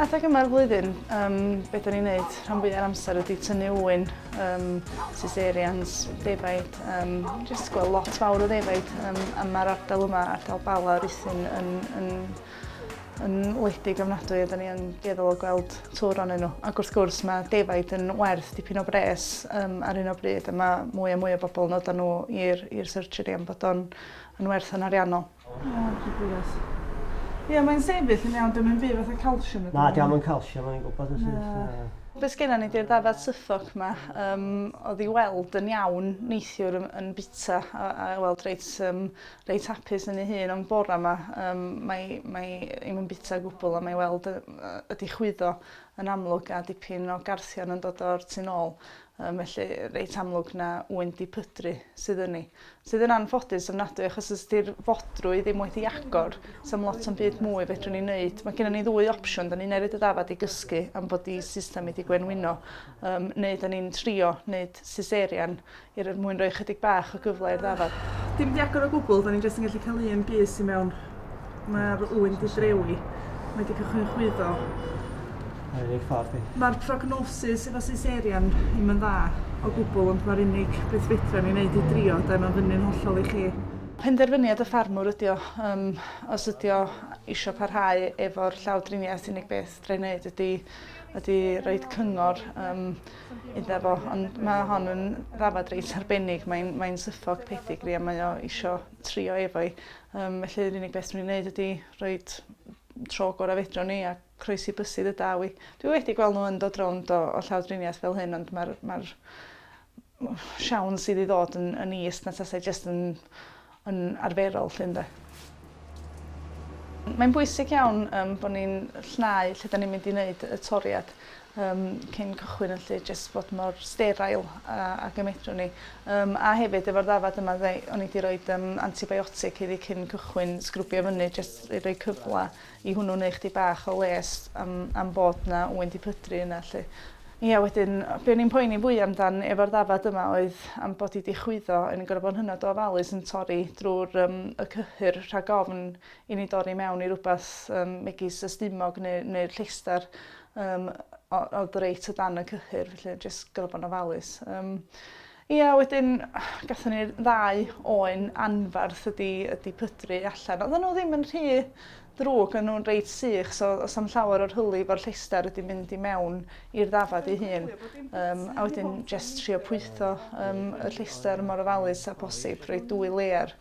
Adeg yma'r flwyddyn, um, beth o'n i'n neud rhan fwyaf amser ydy tynnu wyn, um, cesareans, defaid, um, just gweld lot fawr o ddefaid, um, a mae'r ardal yma, ardal Bala, Ruthin, yn, yn yn wledig ofnadwy a 'dan ni yn dueddol o gweld twr onyn nhw. Ac wrth gwrs mae defaid yn werth dipyn o bres um, ar un o bryd a mae mwy a mwy o bobl yn odan nhw i'r i'r surgery am bod o'n yn werth yn ariannol. Ie, mae'n sefyll yn iawn, dwi'n mynd byd fatha calsiwm. Na, diolch yn calsiwm, o'n i'n gwybod yn syth. Be sgynna ni di'r ddafad syffog yma, um, oedd i weld yn iawn neithiwr yn, yn bita a, a weld reit um, reit hapus yn ei hun am bora ma yym mae mae 'i 'im yn bita o gwbwl a mae i weld yy yy 'di chwyddo yn amlwg a dipyn o garthion yn dod o'r tu nôl yym felly reit amlwg na ŵyn di pydru sydd yn 'i. Sydd yn anffodus ofnadwy achos os 'di'r fodrwy ddim wedi agor sa'm lot o'm byd mwy fedrwn ni neud ma' gennon ni ddwy opsiwn 'dan ni'n neud y ddafad i gysgu am bod 'i system 'i 'di gwenwyno yym neu 'dan ni'n trio neud siserian Yr er mwyn roi chydig bach o gyfle i'r ddafad. Dim di agor o gwbwl, da ni jyst yn gallu cael un bys i mewn. Ma'r ŵyn di drewi. Mae di cychwyn chwyddo. Ar unig ffordd i. Ma'r prognosis efo cesarean ddim yn dda o gwbwl ond ma'r unig beth fedra ni neud i drio de, ma'n fyny'n hollol i chi. Penderfyniad y ffarmwr ydi o, yym os ydi o isio parhau efo'r llawdriniaeth unig beth fedra i neud ydi ydi roid cyngor yym iddo fo, ond mae hon yn ddafad reit arbennig. Mae'n mae syffog pethigri a mae o isio trio efo i. Um, felly yr unig beth dwi'n gwneud ydy rhoi tro gorau fedro ni a croesi bysydd y daw i. Dwi wedi gweld nhw yn dod rownd o, o llawdriniaeth fel hyn, ond mae'r ma, r, ma r siawns sydd i ddod yn, yn is na tasau jyst yn yn arferol 'lly ynde? Mae'n bwysig iawn yym bo' ni'n llnau lle 'dan ni'n mynd i neud y toriad yym cyn cychwyn felly jyst fod mor sterile a ag y medrwn ni. Yym a hefyd efo'r ddafad yma ddeu- o'n i 'di roid yym antibiotic iddi cyn cychwyn sgrwbio fyny jyst i roi cyfla I hwnnw neu chdi bach o les am am bod 'na ŵyn 'di pydru yna 'lly. Ia wedyn be o'n i'n poeni fwya amdan efo'r ddafad yma oedd am bod 'i 'di chwyddo o'n i'n gor'o' bo'n hynod o ofalus yn torri drw'r yym y cyhyr rhag ofn i ni dorri mewn i rwbath yym megis y stumog ne' neu'r llestar yym o- o'dd reit o dan y cyhyr felly jyst gor'o' bo'n ofalus. Yym. Ia, wedyn gathon ni'r ddau oen anfarth wedi wedi pydru allan. Oddan nhw ddim yn rhy ddrwg, o'n nhw'n reit sych, so does na'm llawer o'r hylif o'r llestr wedi mynd i mewn i'r ddafad ei hun. Yym, a wedyn jest trio pwytho yym y llestr mor ofalus â posib, rhoi dwy layer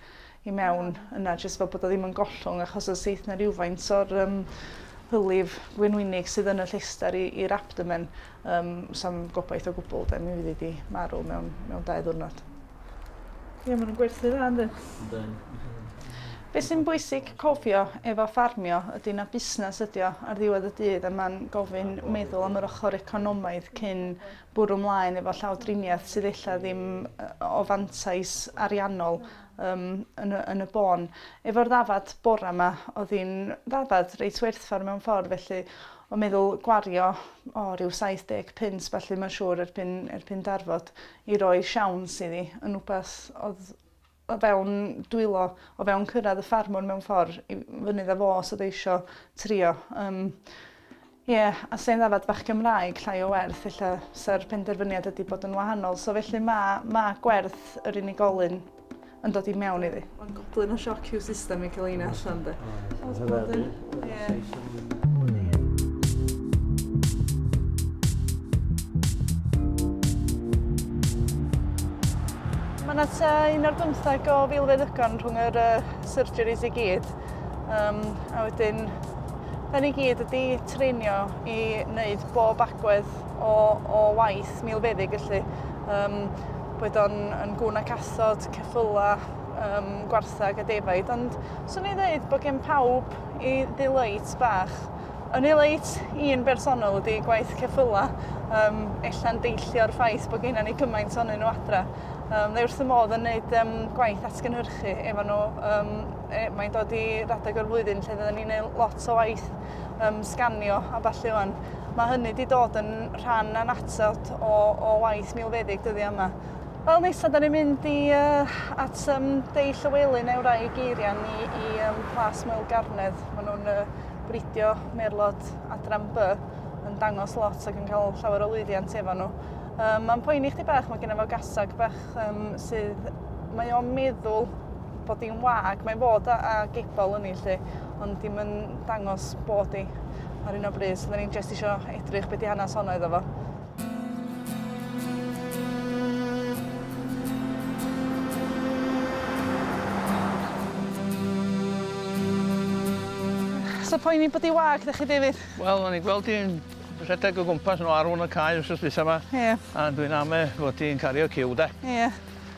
i mewn yna jyst fel bod o ddim yn gollwng achos os eith 'na rywfaint o'r um, hylif gwenwynig sydd yn y llester i'r abdomen, um, sam gobaith o gwbl, de, mi fydd wedi marw mewn, mewn dau ddwrnod. Ie, maen nhw'n gwerthu dda, ynddo? Be sy'n bwysig cofio efo ffarmio ydy na busnes ydy o ar ddiwedd y dydd a mae'n gofyn meddwl am yr ochr economaidd cyn bwrw mlaen efo llawdriniaeth sydd ella ddim o fantais ariannol Yym, yn y, yn y bôn. Efo'r ddafad bora 'ma, o'dd hi'n ddafad reit werthfawr mewn ffordd felly o meddwl gwario, o, ryw 70 punt felly mae'n siŵr erbyn, erbyn darfod i roi siawns iddi yn wbath o'dd o fewn dwylo, o fewn cyrraedd y ffarmwr mewn ffordd i fynydd a fo os o'dd e isio trio. Yym. Ie, a sy'n ddafad bach Cymraeg, llai o werth, ella sa'r penderfyniad ydi bod yn wahanol, so felly ma, ma gwerth yr unigolyn yn dod i mewn iddi. Mae'n goblyn o sioc i'w system i cael un allan de. Oes bod yn, ie. Mae 'na tua un ar bymtheg o filfeddygon rhwng yr yy surgeries i gyd. Um, a wedyn, hynny i gyd ydy treinio i wneud bob agwedd o, o waith milfeddig, felly um, bod o'n yn gwn ac asod, ceffyla, um, gwarthag a defaid, ond swn i'n dweud bod gen pawb i ddileit bach. Yn ddileit un bersonol ydy gwaith ceffyla, um, ella'n deillio'r ffaith bod gennym ni gymaint o'n nhw adra. Um, dde wrth y modd yn gwneud um, gwaith atgynhyrchu efo nhw um, E, mae'n dod i radeg o'r flwyddyn lle fydden ni'n neud lot o waith um, sganio a ballu wan. Mae hynny wedi dod yn rhan anatat o, o waith milfeddyg dyddi yma. Wel, nesa, da ni'n mynd i, uh, at um, Dei Llywelyn neu rai geirian i, i um, Plas Moel Garnedd. Maen nhw'n uh, bridio merlod adran B yn dangos lot ac yn cael llawer o lwyddiant efo nhw. Um, mae'n poeni chdi bach, mae gen fo gasag bach um, sydd... Mae o'n meddwl bod hi'n wag. Mae'n fod a, a geibol yn ei lle, ond dim yn dangos bod hi ar un o bryd. So, da ni'n just isio edrych beth i hanes honno iddo fo. So poeni bod hi wag, da chi, David? Wel, o'n i'n gweld hi'n rhedeg o gwmpas nhw arwn y cae wrth ystwysa yma. Ie. Yeah. A dwi'n ame fod hi'n cario cyw, da. Ie. Yeah.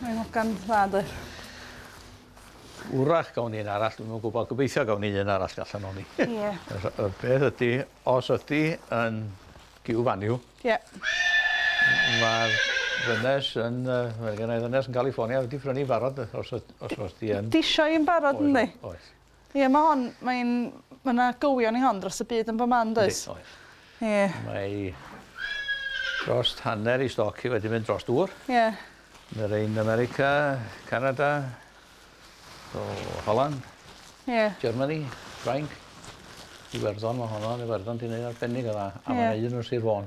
Mae'n hogan dda doedd? Wrach gawn ni un arall, dwi'm yn gwybod, gobeithio gawn ni un arall allan o'n ni. Ie. Y peth ydy, os ydy yn giw faniw... Ie. ...mae'r ddynes yn, mae genna i ddynes yn California wedi prynu barod os os os 'di yn... Di isio un barod yndi? Oes. Ie ma' hon mae'n ma' 'na gywion i hon dros y byd yn bo' man does? Yndi oes. Ie. Mae drost hanner i stoc hi wedi mynd dros dŵr. Ie. Ma' rein America, Canada, o Holland. Ie. Germany, Ffrainc, Iwerddon ma' honno yn Iwerddon 'di neud arbennig o dda. Ie. A ma' 'na un yn Sir Fôn.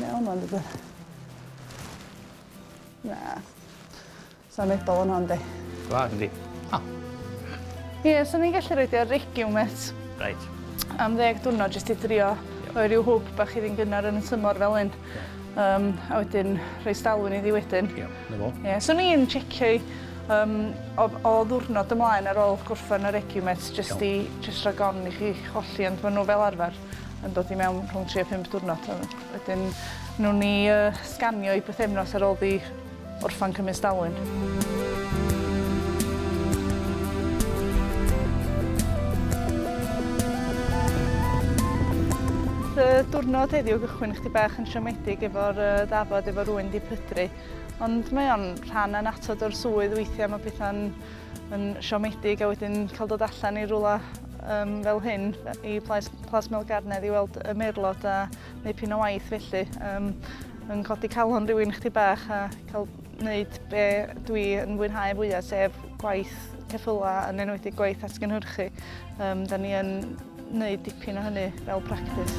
Iawn, mae'n dod yn... Na. Sa'n edol yn hon, di. Gwa, yndi. Ha. Ie, yeah, sa'n ni'n gallu rhaid i'r regiw met. Right. Am ddeg dwrnod, jyst i drio rhoi rhyw hwb bach i ddyn gynnar yn y tymor fel un. Um, a wedyn rhoi stalwyn iddi wedyn. Ie, yeah, na fo. Ie, yeah, so ni'n checio'i um, o, o ddwrnod ymlaen ar ôl gorffen yr egiwmet, jyst i jyst rhag on i chi cholli, ond maen nhw fel arfer yn dod i mewn rhwng 3 a 5 diwrnod. Wedyn nhw'n ni uh, sganio i bythefnos ar ôl di Orffan cymysg dalwyn. y diwrnod heddiw gychwyn chdi bach yn siomedig efo'r uh, dafod efo rwy'n di pydru. Ond mae o'n rhan yn atod o'r swydd weithiau mae pethau'n yn siomedig a wedyn cael dod allan i rwla um, fel hyn i Plas, Plas Melgarnedd i weld y merlod a Dipyn o waith felly, um, yn codi calon rhywun chdi bach a cael wneud be dwi yn fwynhau fwyaf, sef gwaith ceffyla yn enwedig gwaith atgynhyrchu. Um, da ni yn wneud dipyn o hynny fel practis.